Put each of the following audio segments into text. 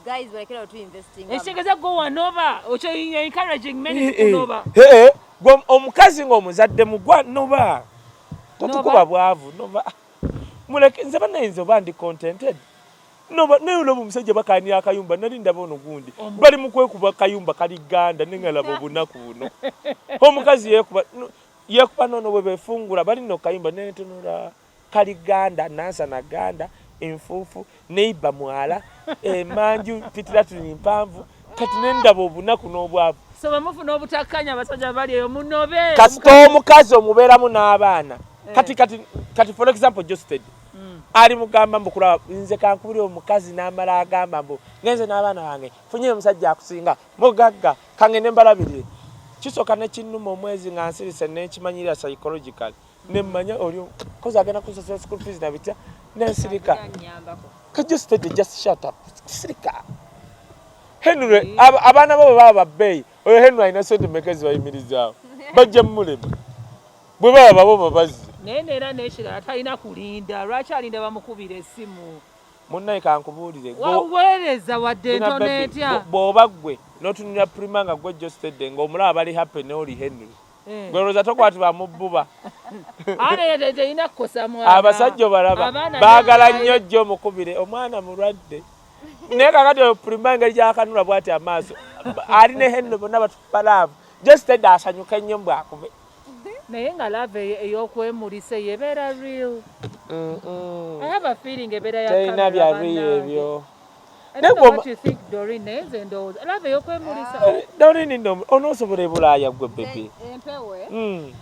guys balekera otu investing ekitegeeza gwe wanoba okyo you encouraging many eh, eh. kunoba ee eh, gwe omukazi ng'omuzadde mugwa noba totukuba bwavu noba muleke nze banayinza oba ndi contented noba naye olaba omusajja bakani akayumba nali ndaba ono gundi bali mukwekuba kayumba kali ganda nengalaba obunaku buno omukazi yekuba yekuba nono bwebefungula bali nokayumba nentunula no, kali ganda nansana ganda enfuufu neiba mwala emanju eh, pitiratuni mpanvu kati nendaba obunaku n'obwavu kasita omukazi omubeeramu n'abaana eh. kati kati kati for example josted mm. ali mugamba mbu kulaba nze kankubuli omukazi n'amala agamba mbu ngenze n'abaana bange funyeyo omusajja akusinga mugagga kange nembalabirire kisoka nekinuma omwezi nga nsirise nekimanyirira psychological ne mmanya oli kozi agenda kunsasula school fees na bitya nensirika kajusitede just shut up sirika henry abaana bo bwe baba babbeeyi oyo henry alina sente meka ezibayimirizaawo bajja mumulema bwe baba babo babazi naye neera nekirala talina kulinda lwaki alinda bamukubira esimu munnaye kankubuulire waweereza wadde ntono etya bw'oba ggwe n'otunulira prima nga ggwe jostedde ng'omulaba bali happy ne oli henry Eh. gweroza tokwatibwa mubbuba abasajja obalaba baagala nnyo jjo mukubire omwana mulwadde naye kakati opulima engeri gyakanula bwati amaaso ali ne henno bonna batukuba laavu jesteda asanyuka ennyo mbwakube naye nga lava eyokwemulisa eyo ebeera real mm, mm. bya real ebyo Doreen no onosobola ebulaaya gwe bebe. Empewe. Mm.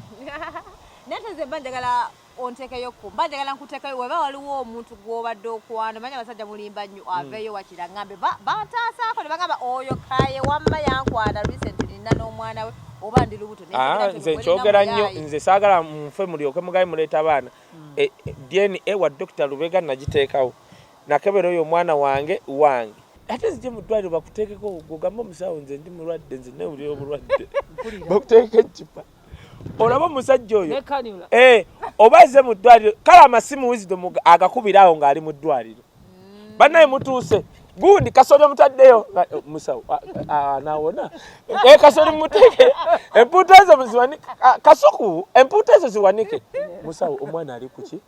Nate ze banjagala ontekeyo ku banjagala nkutekayo weba waliwo omuntu gwobadde okwano manya basajja mulimba nnyo mm. aveyo wakira ngambe batasaako ne bagamba oyo kaye wamma yankwana recently nina n'omwana we oba ndi lubuto ah, nze nkyogera nnyo nze saagala nfe mulyoke mugaye muleeta abaana mm. eh, eh, dna wa dokita lubega nagiteekawo Nakebera oyo omwana wange wange. Ate zije mu ddwaliro bakuteekeko ogamba omusawo nze ndi mulwadde nze newulira obulwadde bakuteekeko ekkipa olaba omusajja oyo eh, oba ze mu ddwaliro kale amasimu wizido agakubira awo ng'ali mu ddwaliro mm. bannaye mutuuse gundi kasoli omutaddeyo eh, musawo ah, ah, ah, nawona e eh, kasoli muteeke empuuta ezo ziwanike kasuku empuuta ezo ziwanike musawo omwana ali kuki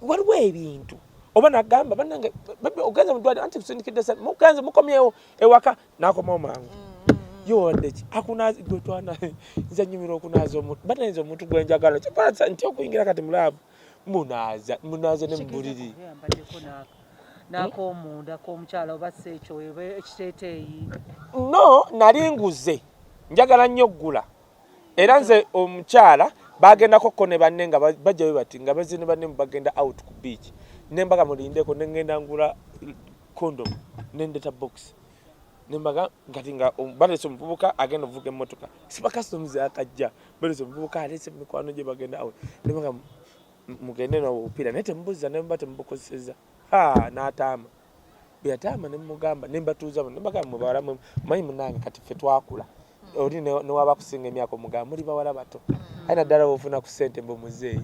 waliwo ebintu oba nagamba banange ogenze mudwaliro anti kusindikidde sente mugenze mukomyewo ewaka nakomawo mangu mm. yowandeki akunazi gwe twana nze nyumira okunaza omuntu banainza omuntu gwe njagala kyokola nti okuyingira kati mulaavu munaza munaza ne mubuliri nakomunda komukyala oba si ekyo ekiteteeyi no nali nguze njagala nnyo okugula era nze omukyala bagendako ko ne banne nga bajja we bati nga bazini banne bagenda out ku beach nembaga mulindeko nengenda ngula condom nendeta box nembaga ngati nga um, balese omuvubuka agenda ovuga emmotoka siba customs akajja balese omuvubuka alese mikwano gye bagenda out nembaga mugende nobupiira naye temubuza nemba temubukozeseza ha n'ataama bweyataama nemugamba nembatuuza nembagamba mubawala manyi munange kati ffe twakula hmm. oli newaba kusinga emyaka omugamba muli bawala bato hmm. aye naddala bofuna ku sente mbu muzeeyi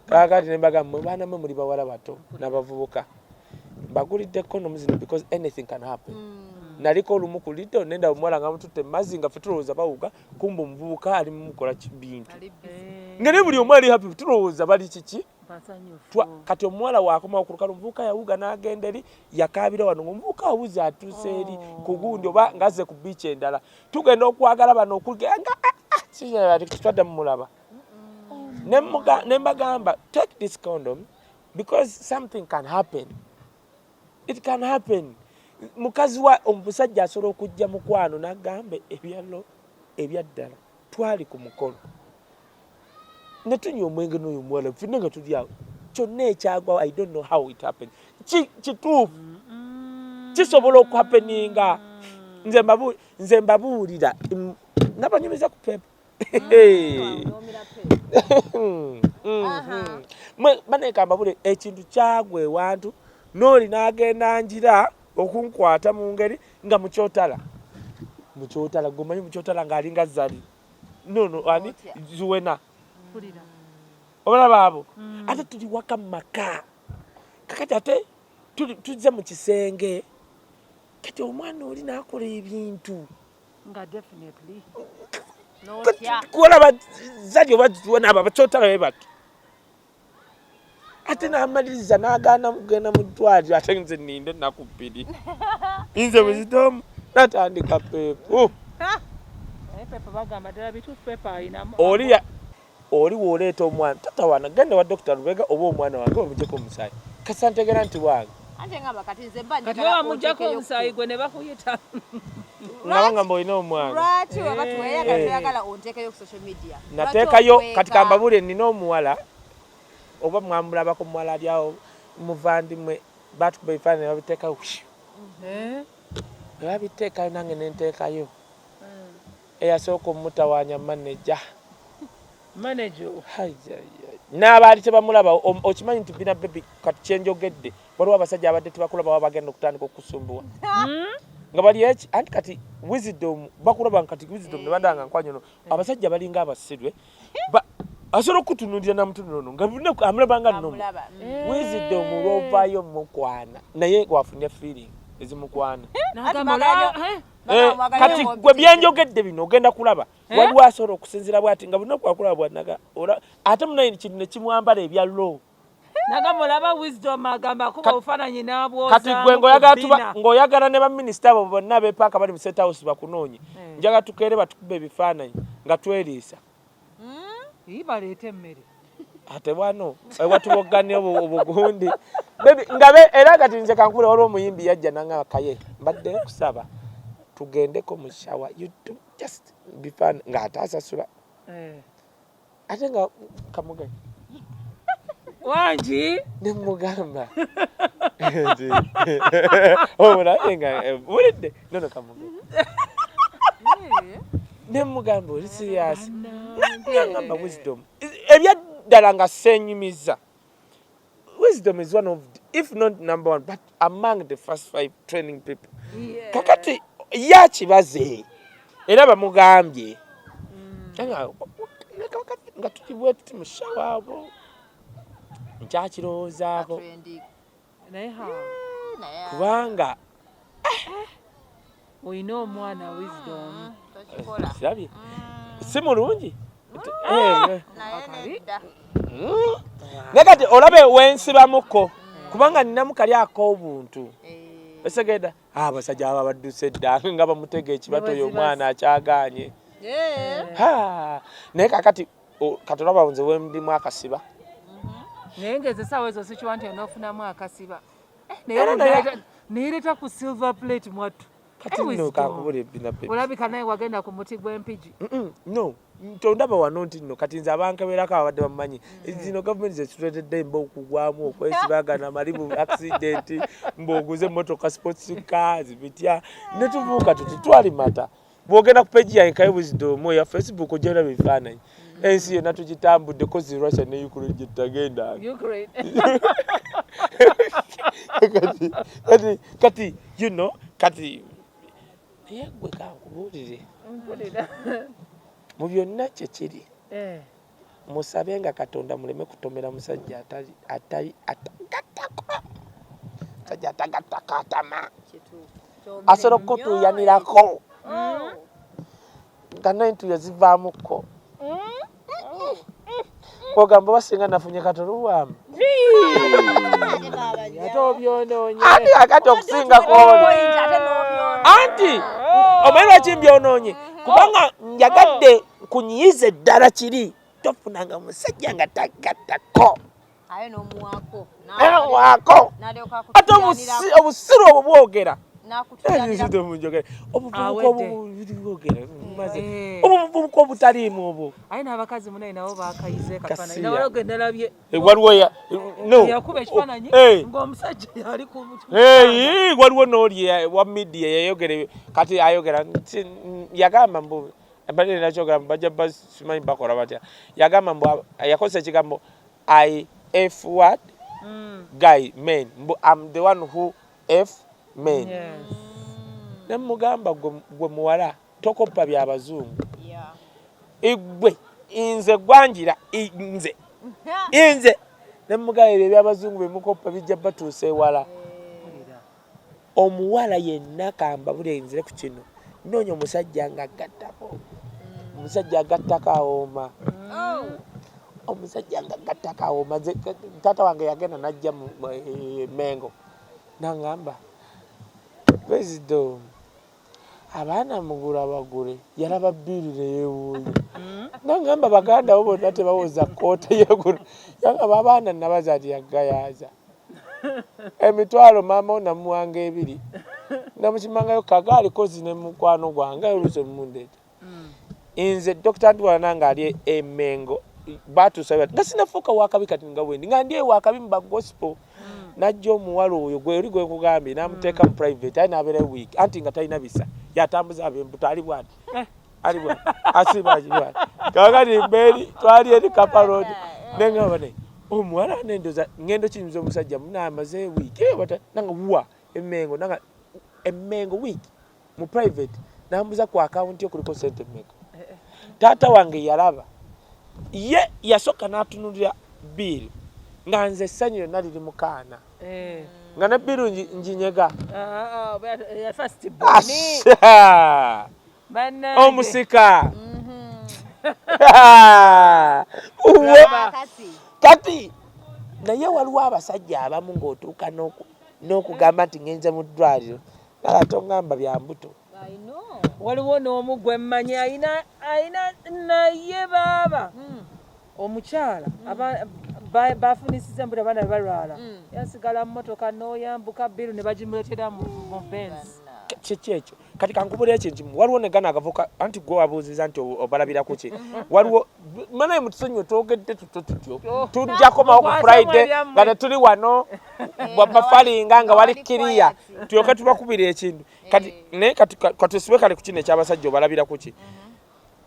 kakati nembagamba mwe baana mwe muli bawala bato nabavubuka mbagulidde condoms zino because anything can happen mm. naliko olumu ku lido nenda omuwala nga mututte mazzi nga fe tulowooza bawuga kumba omuvubuka ali mumukola kibintu nga ne buli omu ali happy tulowooza bali kiki kati omuwala wakomawo ku lukalu omuvubuka yawuga n'agenda eri yakaabira wano ngaomuvubuka awuze atuuse eri oh. ku gundi oba ngazze ku biiki endala tugenda okwagala bano okuganga ah, ah, kitwadda mumulaba ne mbagamba take this condom because something can happen it can happen mukazi wa omusajja asobola okujja mukwano nagamba ebyalo ebyaddala twali ku mukolo nga tunywa omwenge n'oyo omuwala fenna nga tuli awo kyonna ekyagwawo i don't know how it happen kituufu kisobola okuhapeninga nze mbabuulira nabanyumiza ku pepa banekambabule ekintu kyagwa ewantu nooli nagenda njira okunkwata mu ngeri nga mukyotala mukyotala gomanyi mukyotala ng'alinga zali no no ani zuwena obalaba abo mm. ate tuli waka mu maka kakati ate tuzze mu kisenge kati omwana oli nakola ebintu kuolaba zali oba zuwena abo abakyotala be batu ate n'amaliriza n'agaana kugenda mu ddwaliro ate nze ninde ennaku bbiri nze buzitomu natandika peepu oli oli wooleeta omwana tata wana genda wa dokita lubega oba omwana wange omujeko omusaayi kasantegera nti wange ante ngamba kati nze mba kati wa mujako omusayi gwe ne bakuyita nabanga mbo ino omwana lwaki eh. wabatu wayagala eh. toyagala ontekayo ku social media natekayo kati kamba bule nina omuwala oba mwamulabako muwala alyawo muvandimwe batukuba ebifaananyi babiteekayo eh? babiteekayo nange nentekayo Eyasooka omutawaanya maneja. Maneja oyo. N'abaali tebamulaba okimanyi nti bina bebi kati kye njogedde waliwo abasajja abadde tebakulaba baba bagenda okutandika okusumbuwa. Hmm? nga bali eki anti kati wisdom bakulaba kati wisdom ne badanga nkwanyo no hmm. abasajja balinga abasirwe asobola okutunulira namutunulono nga amulabanga nomu hmm. wisdom lwovayo mukwana naye wafunye feeling ezimukwana Eh, kati gwe byenjogedde bino ogenda kulaba eh? waliwo asobola okusinzira bwati nga bulina kwakulaba bwanaga ate munaye kintu nekimwambala ebya low kati gwe ng'oyagala ne baminisita abo bonna bepaaka bali mu state house bakunoonye eh. njaga tukeere batukube ebifaananyi nga tweriisa hmm? baleeta emmere ate wano watuwoggane obugundi nga era kati nze kankubula waliwo omuyimbi yajja nanga kaye mbadde nkusaba tugendeko mu shawa just bifan ng'ate asasula eh. ate nga kamugaye wangi nemugamba obulabe nga eh, bulidde nono kamuge nemugamba oli siriyasi nagamba wisdom ebyaddala nga senyumiza wisdom is one of the, if not number one but among the first five training people kakati yakibaze era bamugambye mm. nga tukibwetuti mushawaabo nkyakirowoozaako kubanga eh, olina omwana wisdom ah, kirabye mm. si mulungi mm. eh, mm. naye kati olabe wensibamuko kubanga ninamu kali ak'obuntu eh. esegeda ah, abasajja aba badduse dda nga bamutega ekibato oyo omwana akyaganye naye kakati katolaba nze wemdimu akasiba mm-hmm. naye nga ezesaawa ezo sikiwa nti onofunamu akasiba eh, neyereta ku silver plate mwattu olabika naye wagenda ku muti gw'empigi no tondaba wano nti no kati nze abankeberako ababadde bamumanyi mm. zino gavumenti zetuletedde mba okugwamu okwesibagana mali mu accident mbaoguze motoka sports cars bitya netuvuuka tuti twalimata bwogenda ku peji yange kaye buzidomu eya facebook ojana bifaananyi ensi yonna tugitambudde kozi russia ne ukraine gyetutagenda kati kati you know kati naye gwe kankubuulire mu byonna kyekiri eh. musabe nga katonda muleme kutomera musajja atali atali atagattako musajja atagattako atama asobola okukutuuyanirako mm. nga nentuyo zivaamuko ogamba mm. basinga nafunye katoluwamu anti akati okusinga kwono anti omanyi lwaki mbyononye kubanga njagadde nkunyiize ddala kiri tofunanga musajja nga tagattako waako ate obusiru obwo bwogera obuvubuka obutaliimu obwo waliwo noli wa midiya yayogera kati ayogera yagamba mbubi mbadde nina kyogera bajja simanyi bakola batya yagamba mbu yakozesa ekigambo i f word mm. guy men mbu am the one who f men yes. ne mugamba gwe muwala tokoppa byabazungu yeah. igwe inze gwanjira inze inze ne mugamba ebyo ebyabazungu bemukoppa bijja batuusa ewala omuwala yenna kambabule nze ku kino noonya omusajja nga gattako omusajja agattako awooma oh. omusajja nga gattako awooma taata wange yagenda najja mu eh, mengo nangamba pulezida omu abaana mugula bagule yalaba bbiiri neyewuunya mm. nangamba baganda bo bonna tebawoza kkoota yegula yangaba abaana nabaza ti yagayaaza emitwalo maama wo namuwanga ebiri namukimangayo kagaali kozi ne mukwano gwange oluusi omumundeeta mm. nze dokita ntwala nange ali emengo batuusa nga sinafuuka wakabi kati nga wendi nga ndi ewakabi mu bagospel mm. najja omuwala oyo gwe oli gwe nkugambye namuteeka mu mm. private aye nabeera week anti nga talina bisa yatambuza abembuto ali bwati eh. alibwa asibajibwa kakati mberi twali eri kaparod nengamba naye omuwala nendoza ngendo kiyinza omusajja munamaze wiiki ewata nanga wa emengo nanga emengo wiiki mu private nambuza ku akawunti okuliko sente emeka taata wange yalaba ye yasooka natunulira biiri nga nze essanyu yonna liri mu kaana eh. nga ne biiru njinyega ah, ah, ah, omusika kati naye waliwo abasajja abamu ng'otuuka n'okugamba nti ngenze mu ddwaliro nala tongamba bya mbuto waliwo n'omu gwe mmanyi ayina naye baaba hmm. omukyala bafunisiza embula abaana be balwala mm. yasigala mu motoka n'oyambuka biru ne bagimuletera mu benzi kiki ekyo kati kankubula ekyo nti waliwo negana agavuka anti gwe wabuuziza nti obalabira kuki waliwo manaye mutusonyiwe twogedde tutyo tutyo oh. tujjakomawo ku friday nga tetuli wano eh, bafalinga nga wali kiriya tulyoke tubakubira ekintu kati eh. naye katusibe kale ku kino ekyabasajja obalabira kuki mm-hmm.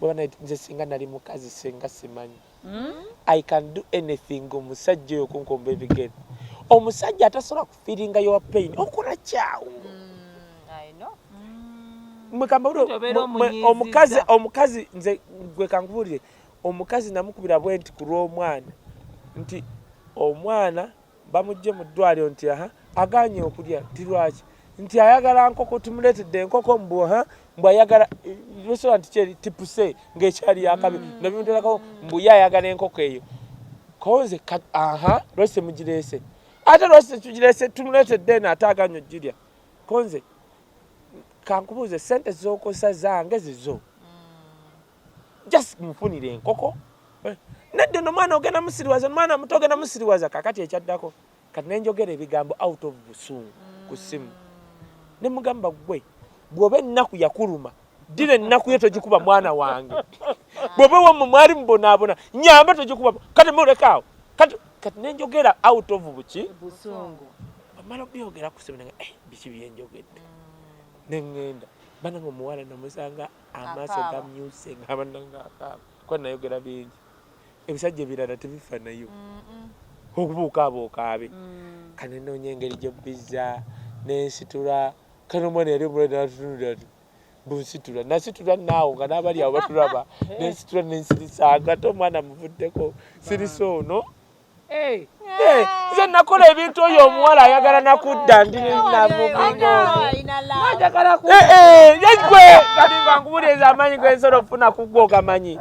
bwebana nze singa nali mukazi singa simanyi hmm? i can do anything omusajja oyo kunkomba ebigere omusajja atasobola kufiringa your pain okola kyawo hmm, hmm. omukazi omukazi nze gwe kankubuulire omukazi namukubira bwenti ku lw'omwana nti omwana bamujje mu ddwaliro nti aha aganye okulya nti lwaki nti ayagala nkoko tumuleetedde enkoko mbu ha mbu ayagala eh, restaurant kyeri tipuse ngaekyali yakabi mm. nabimuterako mbu ye ayagala enkoko eyo konze aha lwese mugireese ate lwese tugireese tumuleetedde eno ate aganye okugirya konze kankubuuze sente zokosa zange zizo mm. just mufunire enkoko eh, nedde no mwana ogenda musiriwaza mwana muto ogenda musiriwaza kakati ekyaddako kati nenjogera ebigambo out of busungu ku simu ne mugamba gwe bwoba ennaku yakuluma ddira ennaku yo togikuba mwana wange bwoba wamwe mwali mubonaabona nyamba togikuba kati mulekaawo kati kati nenjogera out of buki busungu amala obyogera ku simu nanga eh, biki byenjogedde mm. nengenda bananga omuwala namusanga amaaso gamyuse ngabanangakuba nayogera bingi ebisajja ebirala tebifa nayo okubuukaabuuka abe mm. kane noonya engeri gyobbiza nensitula kano omwana yali omulade natutunulira ti bunsitula nasitula naawo nga n'abali awo batulaba nensitula nensirisa ngate omwana muvuddeko sirisa ono nze nakola ebintu oyo omuwala ayagala nakudda ndinamugwe kaningangubuleza amanyi gwensola okufuna kugwe ogamanyi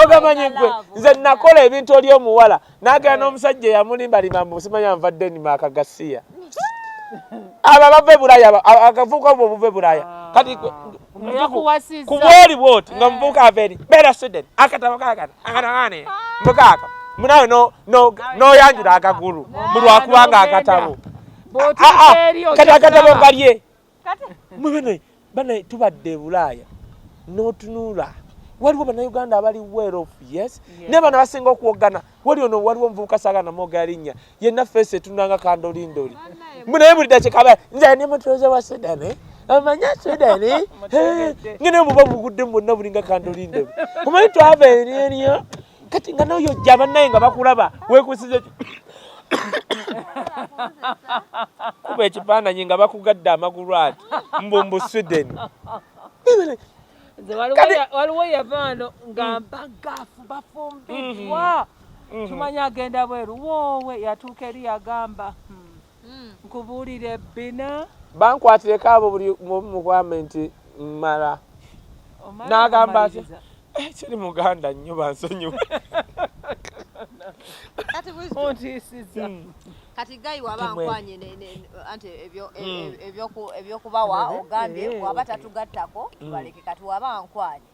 ogamanyi gwe nze nakola ebintu oli omuwala nagenda n'omusajja eyamulimbalimba mbu simanya nva denimaka gasiya abo abava e bulaya akavubuka obwo obuva e bulaya kati ah. ku bwoli bwoti nga omuvubuka eh. ava eri beera sweden akatabo kakana akatakaane mbukaaka munawe noyanjula akagulu mulwakubanga akatabo ah, ah, kati akatabo kalye bana tubadde ebulaaya notunula waliwo banauganda abali well off yes yeah. naye bana basinga okuwogana wali ono waliwo omuvubuka saga namwoga linnya yenna feesi etunanga kandolindoli naye buli dakikaba nze ne mutuuze wa sudani amanya sudani ngene muba muguddemu bonna bulinga kandolindoli omanyi twava eri eriyo kati nga noyo ojja bannaye nga bakulaba wekusiza kuba ekifaananyi nga bakugadde amagulu ati mbu mbu sweden waliwo yavaano nga mm. mbagafu bafumbiddwa mm-hmm. mm-hmm. tumanya agenda bweru woowe yatuuka eri yagamba hmm. hmm. nkubuulire bina bankwatireko abo buli mukwame nti mmala n'agamba ati eh, kiri muganda nnyo bansonyiwa ontiisiza hmm. kati gayi waba nkwanye anti e, hmm. ebyokubawa ogambye eh. waba tatugattako tubaleke kati waba nkwanye